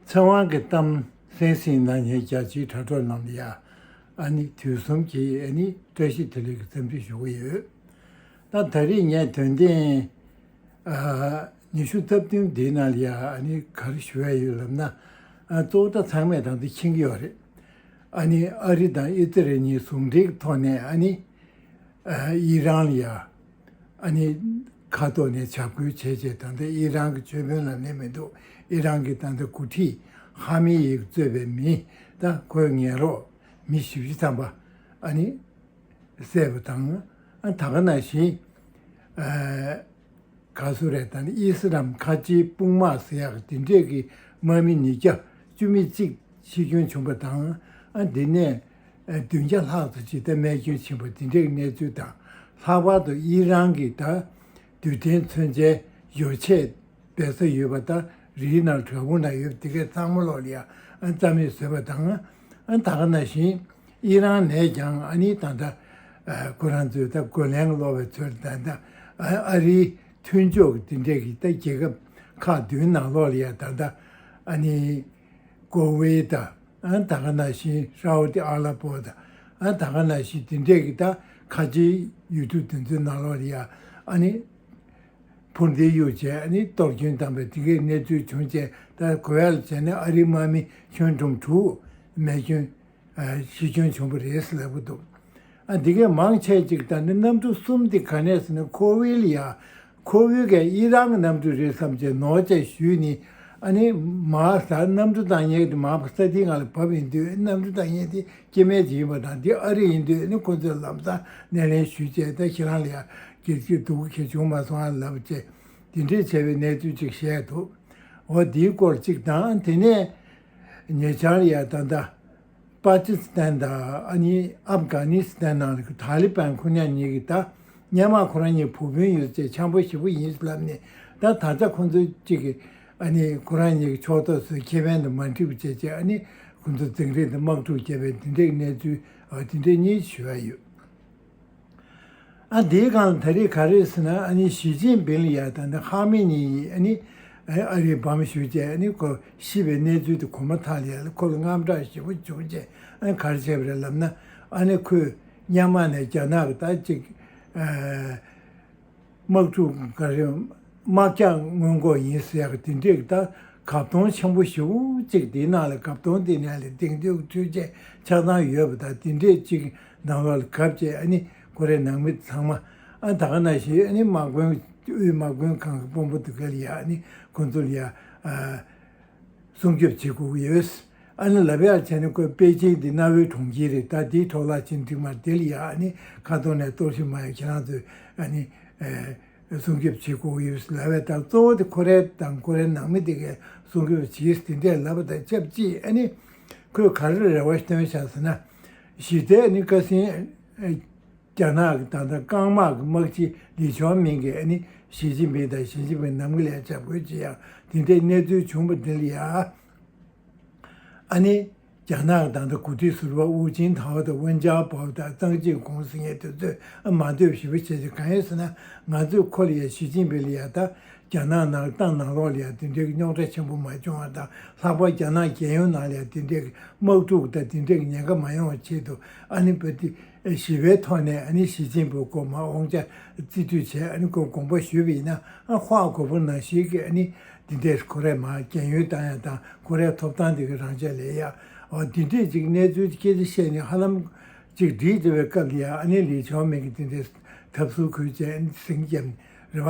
ཚེ་དབང་གི་གཏམ་གསན་ཟིན་ན་ངས་རྒྱལ་སྤྱིའི་དྲ་གྲོགས་རྣམས་ལ་ཡ་ཨ་ནི་དུས་གསུམ་གྱི་ཨ་ནི་བཀྲ་ཤིས་བདེ་ལེགས་ཀྱི་བརྩམས་ཆོས་ཞུ་གི་ཡོད། ད་ད་རེས་ངས་དོན་ལྡན་ཉི་ཤུ་རྩ་བདུན་འདིའི་ནང་ལ་ཡ་ཨ་ནི་གར་ཞུ་ཡ་ཡོད་ལབ་ན་གཙོ་བོ་དག་ཚང་མས་དང་དུ་འཁྱེང་གི་ཡོད་རེད། ཨ་ནི་ཨ་རི་དང་ཨི་ཙི་རེ་གཉིས་ཟུང་འབྲེལ་གྱི་ཐོག་ནས་ཨ་ནི། ཡིད་རང་ལ་ཡར་ཨ་ནི་ཁ་ཏོ་ནས་བྱ་འགུལ་བྱས་བྱས་ད་ལྟ་ཡིད་རང་གི་ཆོས་དཔོན་ལ་གནས་མི་འདུག་ཡིད་རང་གིས་ད་ལྟ་གུ་ཁྲི་ཧ་མི་ཡིག་གཙོས་པའི་མི་དང་ཁོའི་ངན་རོགས་མི་བཞི་བཞི་ཐམ་པ་ཨ་ནི་བསད་པ་དང་ད་ག་ན་བཞིན་ག་སུ་རེ་ད་ནི་དབྱི་སི་རམ་ཁ་ཆེའི་དཔུང་དམག་སི་ཡག་དེ་འདྲས་ཀྱི་དམག་མི་ཉིས་བརྒྱ་བཅུ་མི་གཅིག་འཆི་སྐྱོན་བྱུང་པ་དང་ཨ་འདི་ནས་བདུན་བརྒྱ་ལྷག་ཏུ་ཇི་ལྟར་རྨས་སྐྱོན་ཕྱིན་པ་འདི་འདྲའི་གནས་ཚུལ་དང་ལྷག་པར་དུ་དབྱི་རང་གི་ད་རྡུལ་ཕྲན་མཚོན་ཆའི་སྦྱོར་ཆས་སྦས་ས་ཡོད་པ་ལྟར་རིའི་ནང་བྲག་ཕུག་ན་ཡོད་དེ་གས་གཙང་མ་ལོག་ལིའ་རྩ་མེད་བཟོས་པ་དང། ད་ག་ན་བཞིན་དབྱི་རང་ནས་ཀྱང་ཨ་ནི་ད་ད་ཁོ་རང་ཚོའི་ད་གོ་ལན་སློག་པའི་ཚུལ་ད་ད་ཨ་རིའི་མཐུན་ཕྱོགས་ཀྱི་དེ་འདྲས་ཀྱི་ད་རྒྱལ་ཁབ་ཁག་བདུན་ནང་ལོག་ལིའ་ད་ད་ཨ་ནི། ཀོ་ཝེ་ད། ད་ག་ན་ཤིན་ཧྲའོ་ཏི་ཨ་ལ་པོ་ད། ད་ག་ན་ཤིན་དེ་འདྲས་ཀྱི་ད་ཁ་ཆེའི་ཡུལ་གྲུ་དེ་ཚོའི་ནང་ལོགས་ལ་ཡ་ཨ་ནི་འཕུར་མདེལ་གཡུག་བྱས་ཨ་ནི་གཏོར་སྐྱོན་བཏང་པས་དེ་གའི་གནས་ཚུལ་བྱུང་བྱས་ད་གོ་ཡ་ལ་བྱས་ན་ཨ་རིའི་དམག་མི་ཁྱོན་ཁྲོམ་དྲུག་མེད་ཁྱོན་གཞི་ཁྱོན་ཆུང་པོ་རེད་ཟེར་གི་འདུག་ཨ་འདི་གས་མང་ཆད་ཅིག་ད་ནི་གནམ་གྲུ་གསུམ་དེ་ག་ནས་ཟིན་ནས་ཁོ་བོལ་ཡ་ཁོ་བོའི་གས་ཨི་རང་གི་གནམ་གྲུ་རེད་བསམ་ཅེས་ནོར་བཅད་ཞུས་ནས་ཨ་ནི་མ་ཟ་གནམ་གྲུ་དང་སྙེག་དེ་མང་པོ་ས་ཐིག་ང་ལ་བབས་ཡིན་དུས་གནམ་གྲུ་དང་སྙེག་དེ་སྐྱེ་མེད་ཅིག་ཡིན་པ་དང་འདི་ཨ་རི་ཡིན་དུས་ནི་ཁོ་ཚོས་ལམ་སང་སྣེ་ལེན་ཞུས་བྱས་ད་ཁྱེད་རང་ལ་ཡ་གྱེར་གྱི་འདུག་ཁྱེད་བྱུང་མ་སོང་ཨ་ལབ་ཅེས་དེ་འདྲའི་ཆེ་བའི་གནས་ཚུལ་ཅིག་བཤད་འདུག་འོ་འདིའི་སྐོར་ཅིག་དང་དེ་ནས། ཉེ་ཆར་ཡ་ད་ད། པཱ་ཀི་སི་ཐན་དང་ཨ་ནི་ཨབ་གྷ་ནི་སི་ཐན་ནང་གི་ཐཱ་ལི་པན་ཁོ་ཉག་གཉིས་ཀྱིས་ད་སྙམ་མ་ཁོ་རང་གཉིས་བུ་སྤུན་ཡོད་ཅེས་འཆམ་པོ་ཞེ་པོ་ཡིན་ཞེས་ལབ་ནས་ད་ད་ཆ་ཁོ་ཚོ་གཅིག་གིས་ཨ་ནི་ཁོ་རང་གཉིས་ཀྱི་ཕྱོགས་གཏོགས་ཚོའི་ཁེ་ཕན་དུ་མ་འཁྲིད་པ་བྱེད་ཅེས་ཨ་ནི་ཁོ་ཚོ་འཛིང་རེས་དང་དམག་འཁྲུག་བྱས་པའི་དེ་འབྲེལ་གནས་ཚུལ་དེ་འབྲེལ་གཉིས་ཞུ་ཡ་ཡོད། ཨ་དེའི་སྒང་ལ་ད་རེས་ག་རེ་ཟེར་ན་ཨ་ནི་ཞི་ཅིན་ཕིན་ལ་ཡག་ད་ནི་ཧྭ་མིན་ཉིན་ཡིས་ཨ་ནི་ཨ་རིའི་བམ་བཞུགས་བཅས་ཨ་ནི་གོ་ཤེས་པའི་གནས་ཚུལ་དེ་གོ་མ་ཐག་ལས་ལ་ཁོ་ལ་དངངས་སྐྲག་ཞེ་པོ་བྱུང་བཅས་ཨ་ནི་གར་བྱས་པ་རེད་ལབ་ན་ཨ་ནི་ཁོས་གཉའ་མ་ནས་རྒྱ་ནག་གི་ད་ཅིག་དམག་འཁྲུག་འགའ་རེ་དམག་རྒྱག་སྔོན་འགོག་ཡིན་ཟེར་ཡག་དེ་འགྲིག་ད་གབ་སྟོང་ཆེན་པོ་ཞིག་འུ་གཅིག་དེ་ནང་ལ་གབ་སྟོང་དེ་ནས་ལ་དེང་དུས་འཕྲུལ་ཆས་ཆགས་སྟངས་ཡོད་པ་དང་དེ་འདྲས་གཅིག་ནང་ལ་ལ་གབ་ཅེས་ཨ་ནི་ཀོ་རེ་ནང་མི་ཚང་མ་ཨ་ད་ག་ན་ཞིག་ཨ་ནི་དམག་དཔོན་དབུས་དམག་དཔོན་གང་གི་དཔོན་པོ་དེ་ག་ལ་ཡག་ཨ་ནི་ཁོང་ཚོ་ལ་ཡག་ཨ། སྲུང་སྐྱོབ་བྱེད་དགོས་ཀྱི་ཡོད། ཨ་ནི་ལ་བེ་ཨར་ཆེན་ནི་ཀོས་པེ་ཅིང་གི་གནའ་བོའི་གྲོང་ཁྱེར་རེད་ད་དེའི་ཐོག་ལག་ཆེན་འགྲིག་མར་དེ་ལ་ཡང་ཨ་ནི་ཁ་ཐོར་ནས་གཏོར་བཤིག་མ་ཡོང་ཁྱེད་རང་ཚོས་ཨ་ནི། སྲུང་སྐྱོབ་བྱེད་དགོས་ཀྱི་ཡོད་ལབ་བས་ད་གཙོ་བོ་དེ་ཁོ་རེ་དང་ཁོ་རེ་ནང་མི་དེ་གས་སྲུང་སྐྱོབ་བྱས་དེ་འདྲས་ལབ་པ་དང་ཆབས་ཅིག་ཨ་ནི། ཁོས་ག་རེ་རེ་བ་བཏོན་བཞག་ཟེར་ན། གཞི་རྩའི་ཨ་ནི་ཀ་སིན། རྒྱ་ནག་གི་ད་ལྟ་རྐང་དམག་གི་དམག་སྤྱི་ལི་ཆོང་མིང་གིས་ཨ་ནི་ཞི་ཅིན་ཕིང་དང་ཞི་ཅིན་ཕིང་ནམ་གི་ལས་བྱ་དགོས་ཅི་ཡང་དེ་འདྲའི་གནས་ཚུལ་བྱུང་པ་འདི་ལ་ཡ་ཨ་ནི་རྒྱ་ནག་གི་ད་ལྟ་གོ་སྒྲིག་ཟུར་པ་ཝུའུ་ཅིན་ཐའོ་དང་ཝུན་ཅང་པའོ་དང་ཙང་ཅིན་གུང་ཟི་ངས་དེ་ཚོས་ཨ་མ་འདོད་ཞི་བ་བྱེད་ཚེ་གང་ཡོད་ཟེར་ན་ང་ཚོས་ཁོ་ལ་ཡ་ཞི་ཅིན་ཕིང་ལ་ཡ་ད་རྒྱ་ནག་ནང་ཏང་ནང་ལོགས་ལ་ཡ་དེ་འདྲའི་རྙོག་དྲ་ཆེན་པོ་མ་བྱུང་བ་དང་ལྷག་པར་རྒྱ་ནག་རྒྱལ་ཡོངས་ནང་ལ་ཡ་དེ་འདྲའི་དམག་འཁྲུག་དང་དེ་འདྲའི་ཉེན་ཁ་མ་ཡོང་བ་ཆེད་དུ་ཨ་ནི་བོད་དེ། ཞི་བའི་ཐོག་ནས་ཨནི་ཞི་ཅིན་པོ་སྐོར་མ་དབང་ཆ་རྩིས་སྤྲོད་བྱས་ཨནི་སྐོར་དགོངས་པ་ཞུས་པ་ཡིན་ན་ཧོ་ཨ་གོ་པོ་ནང་ཞིག་གིས་ཨནི་འདི་འདྲས་ཁོ་རས་མ་རྒྱན་ཡོད་དང་ཡང་དང་ཁོ་རས་ཐོབ་ཐང་འདི་གི་རང་ཆ་ལས་ཡ་ཨོ་འདི་འདྲས་ཅིག་གནས་ཚུལ་སྐད་ཆ་བཤད་ནས་ཧ་ལམ་ཅིག་བྲིས་བྱས་པའི་སྐབས་འདི་ཡ་ཨནི་ལིས་ཆའོ་མེན་གིས་འདི་འདྲས་ཐབས་ཟུར་ཁོས་བྱས་ཟིང་རྒྱབ་ནས་རེ་བ་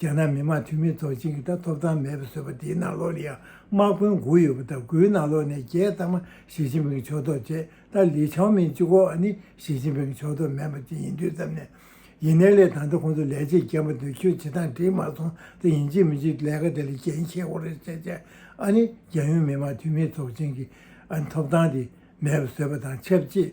རྒྱ་ནག་མི་དམངས་འཐུས་མི་ཚོ་གཅིག་གིས་ད་ཐོབ་ཐང་མེད་པར་བཟོས་པ་དེའི་ནང་ལོགས་ལ་ཡང་དམག་དཔོན་དགུ་ཡོད་པ་དང་དགུའི་ནང་ལོགས་ནས་བརྒྱད་ཚང་མ་ཞི་ཅིན་ཕིང་ཕྱོགས་གཏོགས་བྱས་ད་ལི་ཆང་མིན་གཅིག་གོ་ནི་ཞི་ཅིན་ཕིང་ཕྱོགས་གཏོགས་མེད་པ་དེ་ཡིན་དུས་ཙམ་ནས་ཡིན་ནའི་ལས་ད་ལྟ་ཁོང་ཚོ་ལས་བྱེད་རྒན་པོ་འདོད་ཁྱོད་བྱེད་སྟངས་འགྲིག་མ་སོང་ད་ཡིན་གཅིག་མིན་གཅིག་ལས་ཀ་དེ་ལ་རྒྱན་ཁྱེར་འོང་རེ་བྱས་བྱས་ཨ་ནི་རྒྱ་ཡོན་མི་དམངས་འཐུས་མི་ཚོགས་ཆེན་གྱི་ཨ་ནི་ཐོབ་ཐང་དེ་མེད་པར་བཟོས་པ་དང་ཆབས་ཅིག་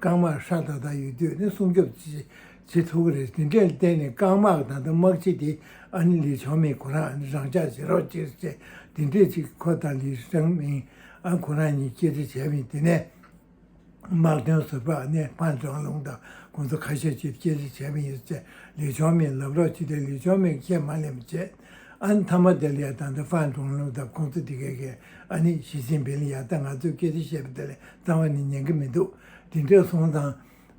རྐང་དམག་ཧྲ་ཏཱ་ཏཱ་ཡོད་དུས་ནས་སྲུང་སྐྱོབ་བྱེད་ཐུབ་ཀྱི་རེད་དེ་འདྲས་བརྟེན་ནས་རྐང་དམག་ད་ལྟ་དམག་སྤྱི་དེ་ཨ་ནི་ལི་ཆང་མིན་ཁོ་རང་རང་འཇགས་བྱེད་རོགས་ཅེས་བཤད་དེ་འདྲས་ཅིག་ཁོ་དང་ལི་ཆང་མིན་ཨ་ཁོ་རང་གཉིས་གཅེས་སྤྲས་བྱས་མིན་དེ་ནས་དམག་དོན་ཟུར་པ་ཨ་ནེ་ཕཱན་ཀྲང་ལུང་དང་ཁོང་ཚོ་ཁ་ཤས་ཀྱིས་གཅེས་སྤྲས་བྱས་མིན་ཡོད་ཚད་ལི་ཆང་མིན་ལབ་རོགས་བྱས་ཏེ་ལི་ཆང་མིན་ཁས་མ་ལེན་པ་བྱས། ཨ་ནི་ཐ་མ་དེ་ལ་ཡ་ཏང་དང་ཧྥན་ཀྲུང་ལུང་དང་ཁོང་ཚོ་དེ་གས་གས་ཨ་ནི་ཞི་ཅིན་ཕིན་ལ་ཡ་ཏང་ང་ཚོས་སྐད་ཆ་བཤད་པ་དེ་ལས་གཙང་བ་ནི་ཉན་གི་མི་འདུག་དེ་འདྲས་སོང་ཙང་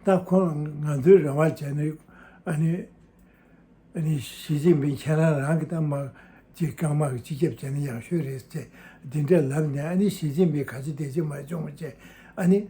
ད་ཁོང་ང་ཚོའི་རེ་བ་བྱས་ན་ཨ་ནི་ཨ་ནི་ཞི་ཅིན་ཕིན་ཁྱེད་རང་རང་གི་ད་དམག་ཅིག་རྐང་དམག་གི་སྤྱི་ཁྱབ་བྱས་ན་ཡག་ཤོས་རེད་ཅེས་དེ་འདྲས་ལབ་ནས་ཨ་ནི་ཞི་ཅིན་ཕིན་ག་ཅི་བདེ་སྐྱིད་མ་བྱུང་བ་བྱས་ཨ་ནི།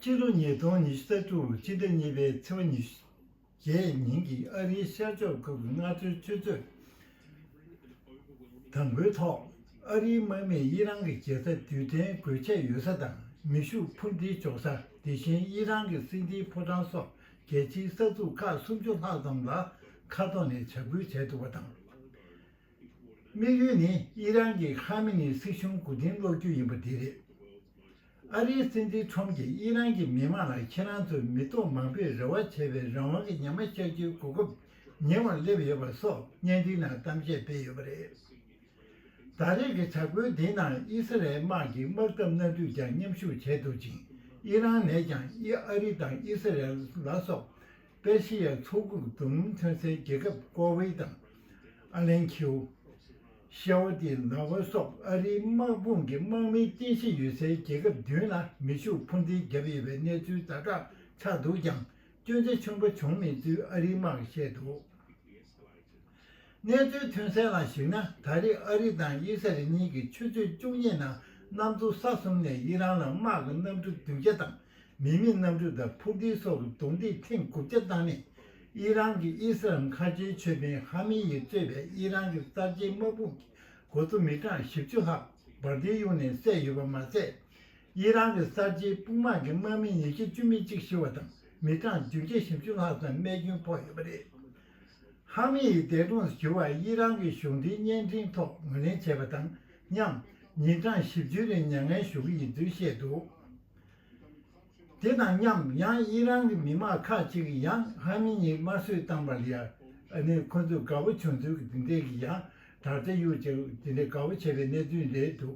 ཕྱི་ལོ་ཉིས་སྟོང་ཉི་ཤུ་རྩ་དྲུག་ཕྱི་ཟླ་གཉིས་པའི་ཚེས་པ་ཉི་ཤུ་བརྒྱད་ཉིན་གྱི་ཨ་རིའི་ཤར་ཕྱོགས་ཁུལ་གྱི་མངའ་གསོལ་ཆུ་ཚོད་དང་པོའི་ཐོག་ཨ་རིའི་དམག་མིས་དབྱི་རང་གི་རྒྱལ་ས་དུས་གཏན་སྒོས་ཆད་ཡོད་ས་དང་མེ་ཤུགས་འཕུར་མདེལ་འཇོག་ས་དེ་བཞིན་དབྱི་རང་གི་སྲིད་འཛིན་ཕོ་བྲང་སོགས་རྒྱལ་སྤྱིའི་ས་ཚུགས་ཁག་སུམ་ཅུ་ལྷག་ཙམ་ལ་མཁའ་ཐོག་ནས་བྱ་འགུལ་བྱས་འདུག་པ་དང། དམིགས་ཡུལ་ནི་ཨི་རན་གྱི་ཁ་མེ་ནི་སྲིད་གཞུང་མགོ་རྟིང་སློག་རྒྱུ་ཡིན་པ་དེ་རེད། ཨ་རིའི་སྲིད་འཛིན་ཁྲོམ་གྱིས་ཨི་རན་གྱི་མི་མང་ལ་ཁྱེད་རང་ཚོས་མི་ཐོག་མང་པོས་རེ་བ་བྱས་པའི་རང་དབང་གི་ཉམས་མ་བཤགས་རྒྱུའི་གོ་སྐབས་ཉེ་བར་སླེབས་ཡོད་པ་སོགས་བརྙན་འཕྲིན་ནང་གཏམ་བཤད་སྤེལ་ཡོད་པ་རེད། ད་རེས་ཀྱི་བྱ་འགུལ་འདིའི་ནང་ཨི་སི་རལ་དམག་གིས་དམག་འཐབ་སྣ་འདུས་ཀྱང་མཉམ་ཞུགས་བྱས་འདུག་ཅིང་ཨི་རན་ནས་ཀྱང་ཨ་རི་དང་ཨི་སི་རལ་ལ་སོགས་པེར་ཞི་ཡ་མཚོ་ཁུག་རྡོ་སྣུམ་ཐོན་སའི་རྒྱལ་ཁབ་ཀོ་ཝེ་དང། ཨ་ལན་ཁིའུ། ཤའོ་ཏི་ལ་ཝེ་སོགས་ཨ་རིའི་དམག་དཔུང་གི་དམག་མིའི་རྟེན་གཞི་ཡོད་སའི་རྒྱལ་ཁབ་བདུན་ལ་མེ་ཤུགས་འཕུར་མདེལ་བརྒྱབ་ཡོད་པའི་གནས་ཚུལ་ཛ་དྲག་ཆགས་འདུག་ཀྱང་སྐྱོན་ཆ་ཆེན་པོ་བྱུང་མེད་ཚུལ་ཨ་རིའི་དམག་གིས་བཤད་འདུག། གནས་ཚུལ་ཐོན་གསལ་ལ་གཞིགས་ན་ད་རེས་ཨ་རི་དང་དབྱི་སི་རལ་གཉིས་ཀྱི་ཆུ་ཚོད་བཅུ་གཉིས་ནང་གནམ་མཚོ་ས་གསུམ་ནས་དབྱི་རང་ལ་དམག་གི་གནམ་གྲུ་བདུན་བརྒྱ་དང་མི་མེད་གནམ་གྲུ་དང་འཕུར་མདེལ་སོགས་ཀྱི་རྡུང་རྡེག་ཐེངས་དགུ་བརྒྱ་བཏང་ནས་དབྱི་རང་གི་ཨི་སི་ལམ་མཁའ་སྤྱོད་ཆོས་དཔོན་ཧ་མི་ཡིས་གཙོས་པའི་དབྱི་རང་གི་གསར་བརྗེའི་དམག་དཔུང་གི་འགོ་གཙོ་མི་གྲངས་བཞི་བཅུ་ལྷག་འབར་མདེལ་གཡུག་ནས་བསད་ཡོད་པ་མ་ཟད། དབྱི་རང་གི་གསར་བརྗེའི་དཔུང་དམག་གི་དམག་མི་ཉིས་བརྒྱ་བཅུ་མི་གཅིག་ཤི་བ་དང་མི་གྲངས་བདུན་བརྒྱ་ཞེ་བཅུ་ལྷག་ཙམ་རྨས་སྐྱོན་ཕོག་ཡོད་པ་རེད། ཧྭ་མི་ཡིས་འདས་གྲོངས་སུ་གྱུར་བ་དབྱི་རང་གི་གཞུང་འབྲེལ་བརྙན་འཕྲིན་ཐོག་ངོས་ལེན་བྱས་པ་དང་མཉམ། ཉིན་གྲངས་བཞི་བཅུའི་རིང་མྱ་ངན་ཞུ་གི་ཡིན་ཚུལ་བཤད་འདུག་དེ་དང་མཉམ་ཡང་དབྱི་རང་གི་མི་མང་ཁག་ཅིག་གིས་ཡང་ཧྭ་མི་གཉིས་དམར་གསོད་བཏང་བ་ལ་ནི་ཁོ་ཚོས་དགའ་བོ་བྱུང་ཚུལ་གྱི་འདི་འདྲའི་གི་ཡང་དྲ་ཚན་ཡོད་ཅིང་དེ་འདྲའི་དགའ་བོ་བྱེད་པའི་གནས་ཚུལ་རེད་འདུག་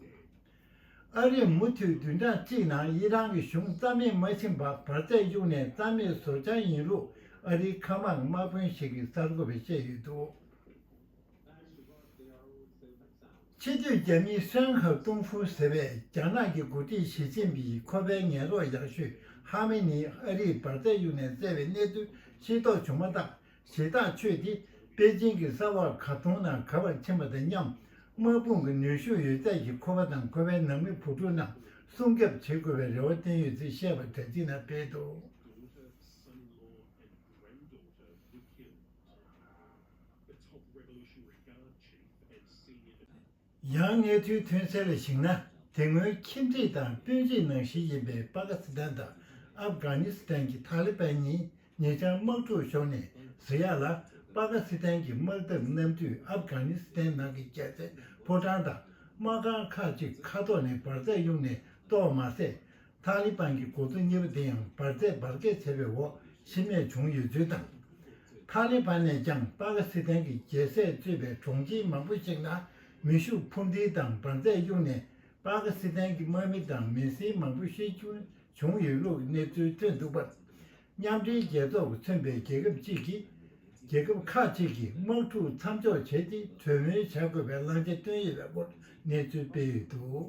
ཨ་རིས་མུ་མཐུད་བདུན་ཕྲག་གཅིག་ནང་དབྱི་རང་གི་གཞུང་རྩ་མེད་མ་ཕྱིན་པར་བར་ཚད་གཡུགས་ནས་རྩ་མེད་བཟོ་འཆར་ཡིན་ལུགས་ཨ་རིའི་མཁའ་དམག་དམག་དཔོན་ཞིག་གིས་གསར་འགོད་པར་བཤད་ཡོད་འདུག། ཕྱི་སྡོད་རྒྱ་མི་ཧྲེང་ཧྭ་ཏུང་ཧྥུའུ་ཟེར་བས་རྒྱ་ནག་གི་འགོ་ཁྲིད་ཞི་ཅིན་ཕིང་གིས་ཁོ་པའི་ངན་རོགས་ཡག་ཤོས་ཧྭ་མེ་ནི་ཨ་རིས་བར་ཚད་གཡུགས་ནས་བཙལ་བའི་གནས་ཚུལ་ཤེས་རྟོགས་བྱུང་མ་ཐག་ཞེ་སྡང་ཆོས་དེ་པེ་ཅིན་གྱི་ས་བག་ག་ཐུང་ན་ག་བར་ཕྱིན་པ་དང་མཉམ། དམག་དཔུང་གི་ནུས་ཤུགས་ཡོད་ཚད་ཀྱིས་ཁོ་པ་དང་ཁོ་པའི་ནང་མི་བུ་ཕྲུག་རྣམས་སྲུང་སྐྱོབ་བྱེད་དགོས་པའི་རེ་བ་བསྟན་ཡོད་ཚུལ་བཤད་པ་དྲ་ཚིགས་ན་སྤེལ་འདུག། ཡང་གནས་ཚུལ་ཐོན་གསལ་ལ་གཞིགས་ན་དེ་སྔོན་ཁྱིམ་མཚེས་དང་སྤུན་མཆེད་ནང་བཞི་ཡིན་པའི་པ་ཀ་སི་ཐན་དང་ཨབ་གྷ་ནི་སི་ཐན་གྱི་ཐ་ལི་པན་གཉིས་ཉེ་ཆར་དམག་འཁྲུག་ཤོར་ནས་བཟི་ཡག་ལ་པ་ཀ་སི་ཐན་གྱི་དམག་འཐབ་གནམ་གྲུས་ཨབ་གྷ་ནི་སི་ཐན་ནང་གི་རྒྱལ་རྩེ་ཕོ་བྲང་དང་དམག་ཁང་ཁག་ཅིག་ཁ་ཐོག་ནས་འབར་རྫས་དབྱུང་ནས་གཏོར་བ་མ་ཟད། ཐཱ་ལི་པན་གྱི་འགོ་གཙོ་གཉིས་པོ་དེ་ཡང་འབར་རྫས་འབར་གས་བྱས་པའི་འོག་ཤི་རྨས་བྱུང་ཡོད་ཚུལ་དང། ཐཱ་ལི་པན་ནས་ཀྱང་པ་ཀི་སི་ཐན་གྱི་རྒྱལ་སྲས་གཙོས་པའི་གྲོང་ཁྱེར་མང་པོ་ཞིག་ལ་མེ་ཤུགས་འཕུར་མདེལ་དང་འབར་རྫས་གཡུགས་ནས་པ་ཀི་སི་ཐན་གྱི་དམག་མི་དང་མི་སེར་མང་པོ་ཤི་འཕོས་བྱུང་ཡོད་ལུགས་གནས་ཚུལ་ཐོན་འདུག་པ། མཉམ་འབྲེལ་རྒྱལ་ཚོགས་ཀྱིས་མཚོན་པའི་རྒྱལ་ཁབ་ཅིག་གིས་རྒྱལ་ཁབ་ཁག་ཅིག་གིས་དམག་འཁྲུག་མཚམས་འཇོག་བྱས་ཏེ་གྲོས་མོལ་བྱ་དགོས་པའི་བླང་བྱ་བཏོན་ཡོད་པའི་སྐོར་གནས་ཚུལ་སྤེལ་ཡོད་འདུག།